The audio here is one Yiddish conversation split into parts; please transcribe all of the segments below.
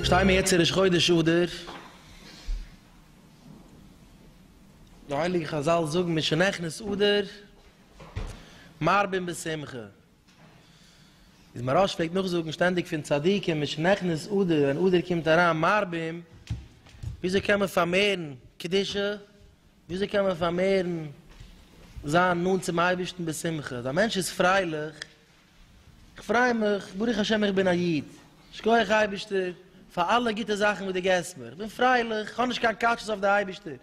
שטיי מיר יעצט אין ראש חודש אדר, די הייליגע חזל זאגן משנכנס אדר מרבין בשמחה. איז מהראש פלעגט נאכזאגן שטענדיג פון צדיקים מיט שכנכנס אדר ווען אדר קומט אריין מרבים, וויאזוי קען מען פארמערן קדושה, וויאזוי קען מען פארמערן זיין נאנט צום אייבערשטן בשמחה, אז א מענטש איז פרייליך, איך פריי מיך, ברוך השם איך בין א איד, שכוח אייבערשטער פאר אלע גוטע זאכן וואס דו געבסט מיר, איך בין פרייליך, איך האב נישט קיין קאטשעס אויף די אייבערשטער,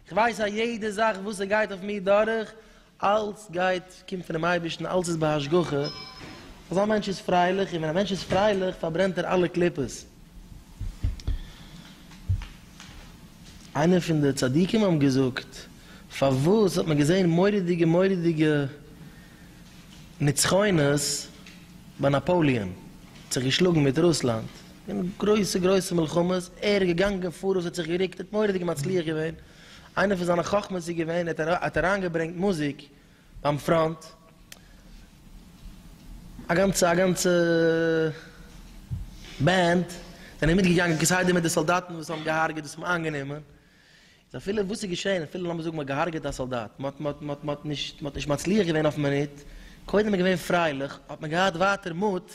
איך ווייס אז יעדע זאך וואס עס גייט אויף מיר דורך, אלס גייט קומט פון דעם אייבערשטן, אלס איז בהשגחה, אזא מענטש איז פרייליך, און ווען א מענטש איז פרייליך פארברענט ער אלע קליפות. איינער פון די צדיקים האבן געזאגט, פארוואס האט מען געזען מורא'דיגע מורא'דיגע נצחונות ביי נאפאליען האט זיך געשלאגן מיט רוסלאנד אין גרויסע גרויסע מלחמות ער איז געגאנגען פאראויס האט זיך געריקט האט מוראדיג מצליח געווען איינע פון זיינע חכמות איז געווען ער האט אריינגעברענגט מוזיק ביים פראנט א גאנצע א גאנצע בענד זענען מיטגעגאנגען כסדר מיט די סאלדאטן וואס האבן געהארגעט וואס האבן איינגענומען. איז אפילו וואס איז געשען, אפילו לאמיר זאגן מ'האט געהארגעט א סאלדאט, מ'האט מ'האט מ'האט מ'האט נישט מ'האט נישט מצליח געווען אויפן מינוט, קודם איז געווען פרייליך, האט מען געהאט ווייטער מוט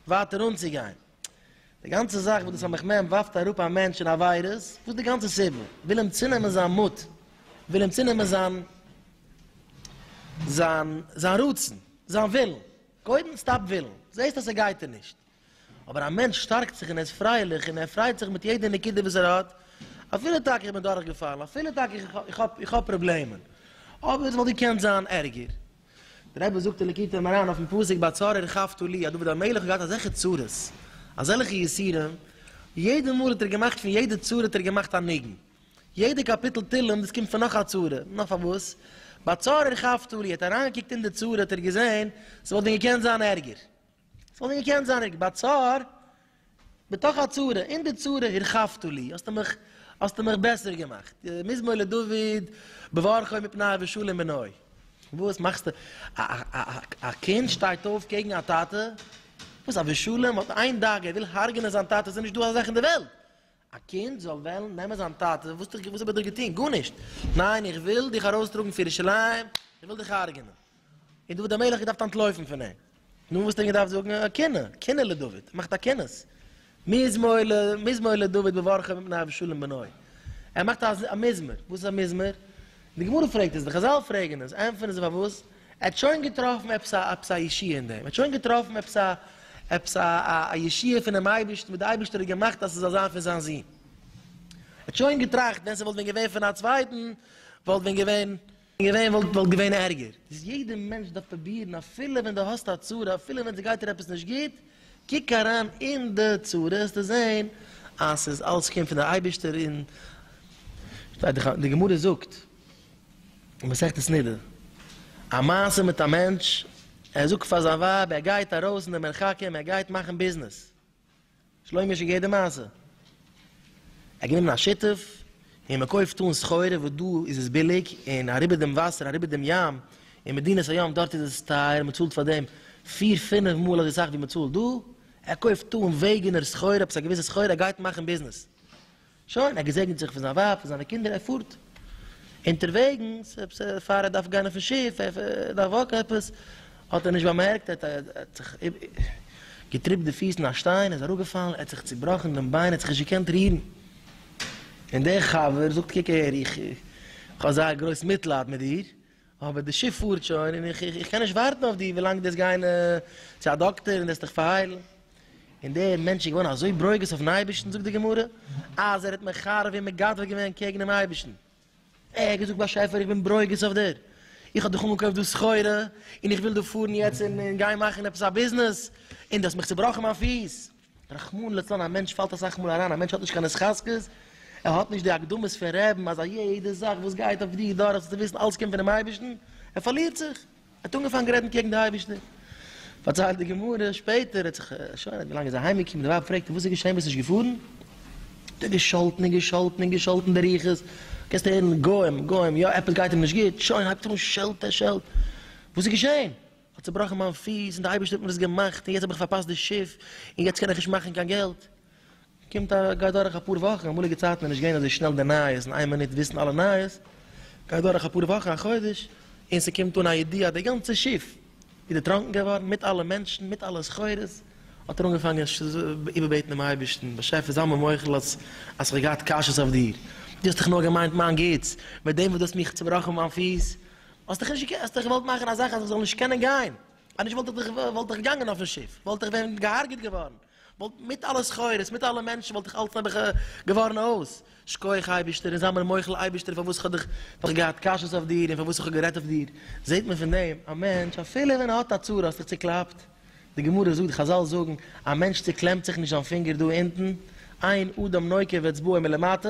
ווייטער אנצוגיין. די גאנצע זאך וואס די סמך מם ווארפט אראפ א מענטש אין עבירות, וואס די גאנצע סיבה? וויל אים צונעמען זיין מוט, וויל אים צונעמען זיין זיין זיין רצון, זיין ווילן, קודם סטאפ ווילן, זעסט אז ס'גייט דיר נישט. אבער א מענטש שטארקט זיך און ער איז פרייליך און ער פרייט זיך מיט יעדע נקודה וואס ער האט, אפילו טאקע איך בין דורכגעפאלן, אפילו טאקע איך האב איך האב פראבלעמען, אבער עס וואלט געקענט זיין ערגער. דער רבי זאגט אין ליקוטי מוהרן אויפן פסוק ביי צרה רכבתו לי, אז דוד המלך האט געהאט אזעלכע צרות, אזעלכע יסורים, יעדע מאל האט ער געמאכט פון יעדע צרה האט ער געמאכט א ניגון, יעדע קאפיטל תהלים דאס קומט פון נאך א צרה, נאר פארוואס? ביי צרה רכבתו לי, ער האט אריינגעקוקט אין די צרה האט ער געזען עס וואלט ווען געקענט זיין ערגער. ס'וואלט נישט געקענט זיין ריק בצר בתוך הצרה, אין די צרה הרחבת לי, האסטו מיך האסטו מיך בעסער געמאכט, מזמור לדוד בברכו מפניו ושלום עיניו, וואס מאכסטו א א א א קינד שטייט אויף קעגן א טאטע, וואס א ושלום האט איין דאגה ער וויל הרג'נען זיין טאטע, ס'איז נישט דא אזא זאך אין די וועלט, א קינד זאל וועלן נעמען זיין טאטע, וואס האב איך ביי דיר געטון? גארנישט! ניין, איך וויל דיך ארויסטראגן פון ירושלים, איך וויל דיך הרג'נען! און דוד המלך האט געדארפט אנטלויפן פון אים. נו, וואס האט ער געדארפט זאגן? א קינה! קינה לדוד! מאכט א קינות! מזמור ל, מזמור לדוד בברכה מפני אבשלום בנו. ער מאכט א מזמור. וואס איז א מזמור? די גמרא פרעגט עס, די חזל פרעגן עס, ענטפערן זיי פארוואס? ער האט שוין געטראפן עפעס א עפעס א ישועה אין דעם, ער האט שוין געטראפן עפעס א עפעס א א ישועה פונעם אייבערשטן וואס די אייבערשטער האט געמאכט אז ס'זאל זיין פון זיין זון. ער האט שוין געטראכט ווען ס'וואלט ווען געווען פון א צווייטן וואלט ווען געווען געווען וואלט וואלט געווען ערגער. איז יעדע מענטש דארף פרובירן אפילו ווען דו האסט א צרה אפילו ווען ס'גייט דיר עפעס נישט גוט, קוק אריין אין די צרה העסטו זען אז ס'איז אלס קומט פון די אייבערשטער און די גמרא זאגט, אין מסכת נדה, א מעשה מיט א מענטש, ער זאגט פאר זיין ווייב, ער גייט ארויס אין די מרחקים, ער גייט מאכן ביזנעס, שלומי'שע געהערט די מעשה, ער האט גענומען א שותף, און מען קויפט אן סחורה, וואס דא איז עס ביליג, און אריבער דעם וואסער, אריבער דעם ים, אין מדינת הים, דארט איז עס טייער, מען צאלט פאר דעם פיר פינף מאל אזוי סאך ווי מען צאלט דא, ער קויפט אן וועגענער סחורה, עפעס א געוויסע סחורה, ער גייט מאכן ביזנעס. שוין, ער געזעגנט זיך פון זיין ווייב, פון זיינע קינדער, ער פארט. אונטערוועגנס, עפעס פאר ער דארף גיין אויפן שיף, ער דארף וואקן עפעס, האט ער נישט באמערקט, ער האט זיך געטריפט די פיס אין א שטיין, ער איז אראפגעפאלן, ער האט זיך צובראכן דעם ביין, ער האט זיך נישט געקענט רירן. און דער חבר זאגט, קוק הער, איך האב אזא גרויס מיטלייד מיט דיר, אבער די שיף פארט שוין און איך איך קען נישט ווארטן אויף דיר ווילאנג דו וועסט גיין צו א דאקטער און דו וועסט דיך פארהיילן. און דער מענטש איז געווארן אזוי ברוגז אויפן אייבערשטן זאגט די גמרא אז ער האט מחרב און מגדף געווען קעגן דעם אייבערשטן, ער האט געזאגט באשעפער איך בין ברוגז אויף דיר, איך האב דיך אנגעקויפט דא סחורה און איך וויל דא פארן יעצט און גיין מאכן עפעס א ביזנעס און דו האסט מיך צובראכן מיין פיס. רחמנא לצלן א מענטש פאלט אסאך מאל אריין, א מענטש האט נישט קיין התחזקות, ער האט נישט די הקדמות פון רעבן אז א יעדע זאך וואס גייט אויף דיר דורך זאלסטו וויסן אלס קומט פונעם אייבערשטן, ער פארלירט זיך, ער האט אנגעפאנגען רעדן קעגן די אייבערשטער. פארציילט די גמרא שפעטער ער האט זיך שוין ווי לאנג איז ער אהיים געקומען די ווייב פרעגט אים וואס איז געשען ביסט נישט געפארן? האט ער געשאלטן און געשאלטן און געשאלטן די רוחות, קענסט הערן גוים גוים יא עפעס גייט אים נישט גוט שוין הייבט ער אן שעלטען שעלטען וואס איז געשען? כ'האב צובראכן מיין פיס און די אייבערשטער האט מיר עס געמאכט און יעצט האב איך פארפאסט די שיף און יעצט קען איך נישט מאכן קיין געלט. קומט א גייט דורך אפאר וואכן, אמאליגע צייטן איז נישט געווען אזוי שנעל די נייעס אין איין מינוט וויסן אלע נייעס, גייט דורך אפאר וואכן א חודש און ס'קומט אן א ידיעה אז די גאנצע שיף איז דערטראנקן געווארן מיט אלע מענטשן מיט אלע סחורות, האט ער אנגעפאנגען איבערבעטן דעם אייבערשטן, באשעפער זיי מיר מוחל אז אז כ'האב געהאט קשיות אויף דיר, דו האסט דאך נאר געמיינט מיין גוטס, מיט דעם וואס דו האסט מיך צובראכן מיין פיס, האסט דיך נישט, האסט דיך געוואלט מאכן א זאך אז איך זאל נישט קענען גיין, אז נישט וואלט איך דיך, וואלט איך געגאנגען אויפן שיף, וואלט איך ווען געהארגעט געווארן, וואלט מיט אלע סחורות, מיט אלע מענטשן וואלט איך אלץ נעבעך געווארן אויס, שקויעך אייבישטער און זיי מיר מוחל אייבישטער פארוואס איך האב דיך, פארוואס איך האב געהאט קשיות אויף דיר און פארוואס איך האב גערעדט אויף דיר, זעט מען פון דעם, א מענטש אפילו ווען ער האט א צרה האסט דיך צוקלאפט, די גמרא זאגט, חזל זאגן, א מענטש צוקלעמט זיך נישט זיין פינגער דא אונטן, אין אדם נוקב אצבעו מלמטה.